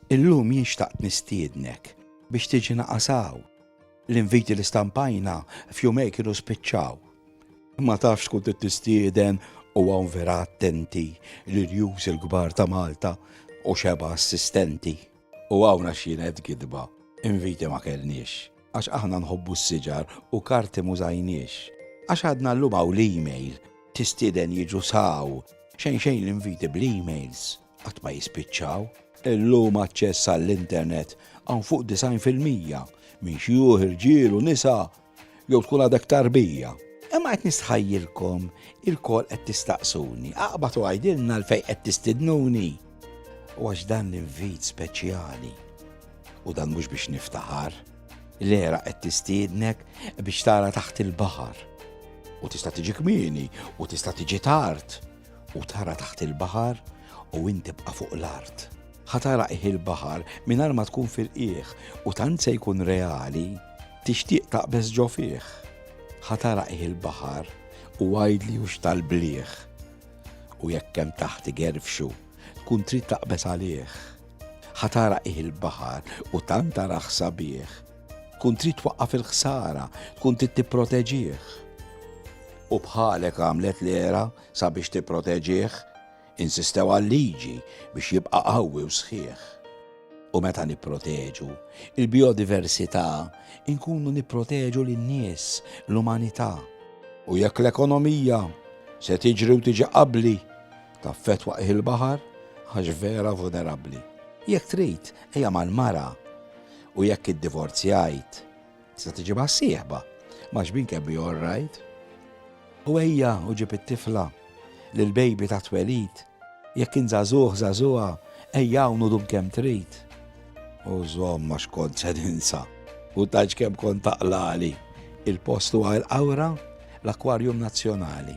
Illum jien xtaqt nistiednek biex tiġi naqasaw. L-inviti li stampajna f'jumej kienu spiċċaw. Ma tafx tkun tistieden u għawn vera attenti li rjus il-kbar ta' Malta u xeba assistenti. U għawna xienet gidba, inviti ma kellniex. Għax aħna nħobbu s-siġar u karti m'użajniex. Għax għadna llum hawn l-email, tistieden jiġu saw, xejn xejn l-inviti bl-emails qatt ma jispiċċaw. Illum aċċess għall-internet hawn fuq 90 fil-mija minn xjuħ, irġiel u nisa jew tkun għadek tarbija. Imma qed nistħajjilkom il-kol qed tistaqsuni, aqbad u għajdilna l-fej qed tistidnuni. U għax dan l-invit speċjali u dan mhux biex niftaħar, l-era qed tistiednek biex tara taħt il-baħar. U tista' tiġi kmieni u tista' tiġi tard u tara taħt il-baħar u inti bqa' fuq l-art. Ħatara iħ il-baħar mingħajr ma tkun fil-qieħ u tant se jkun reali tixtieq taqbeż ġo fih. Ħatara iħ il-baħar u għajdli u tal-bliħ. U jekk hemm taħt igerfxu, tkun trid taqbeż għalih. Ħa tara ih il-baħar u tant tarah sabiħ, tkun trid twaqqaf il-ħsara, tkun trid tipproteġih. U bħalek għamlet l-era sabiex tipproteġih, insistew għal-liġi biex jibqa' qawwi u sħiħ. U meta nipproteġu il-biodiversità, inkunu nipproteġu lin-nies, l-umanità. U jekk l-ekonomija se tiġri u tiġi qabbli, Taffettwa qiegħ il-baħar għax vera vulnerabbli. Jekk trid, ejja mal-mara. U jekk iddivorzjajt, tista' tiġibha sieħba ma' xbin kemm hi all right. U ejja u ġib it-tifla lil baby ta' twelid. Jekk int żagħżugħ żagħżugħa, ejja hawn u dum kemm trid. U żomm għax kont se ninsa u taġ kemm kont taqlali. Il-post huwa l-qawra l-Akwarjum Nazzjonali.